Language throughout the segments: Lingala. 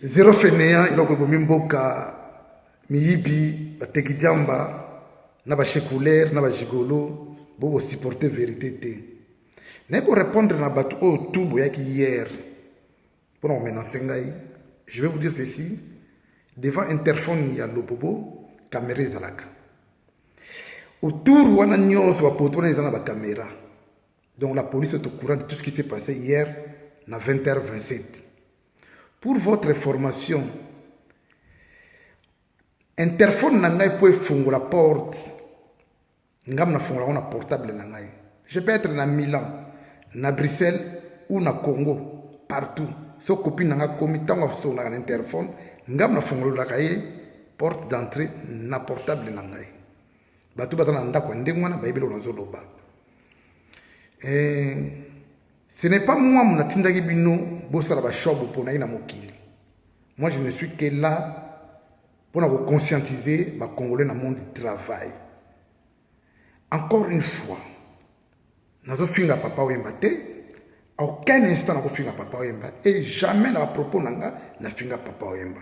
Zero fainéant eloko ebomi mboka miyibi bateki diamba na ba checouler na ba gigolo bo ko supporter verite te naye ko répondre na bato oyo tout boyaki hier mpo na komenance ngai je vais vous dire ceci devant interphone ya lobobo kamera ezalaka autour wana nyonso bapoto wana eza na bakamera Donc la police est au courant de tout ce qui s'est passé hier à 20h27. Pour votre information, interphone na ngai mpo efungola porte ngam nafungolaka na portable na ngai je peux être na milan na bruxelles ou na congo partout so copine na ngai akomi ntango asongolaka na interphone ngam nafungololaka ye porte d'entrée na portable na ngai bato baza na ndako ya ndenge wana bayebi eloko nazoloba eh, ce n'est pas moi monatindaki bino bosala bashop boponaki na mokili moi je ne suis que là mpo na koconscientiser bacongolais na monde du travail encore une fois nazofinga papa oyemba te aucun instant nakofinga papa oyemba et jamais na bapropos na nga nafinga papa oyemba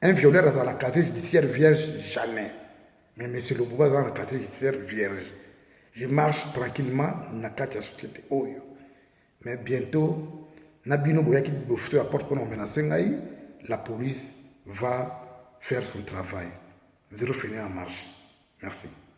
Un violeur azala na casier judiciaire vierge jamais. Mais monsieur Lububa azala na casier judiciaire vierge. Je marche tranquillement na kati ya société oyo. Mais bientôt na bino boyaki bofuto ya porte mpona komenase ngai la police va faire son travail. Zero fini en marche. Merci.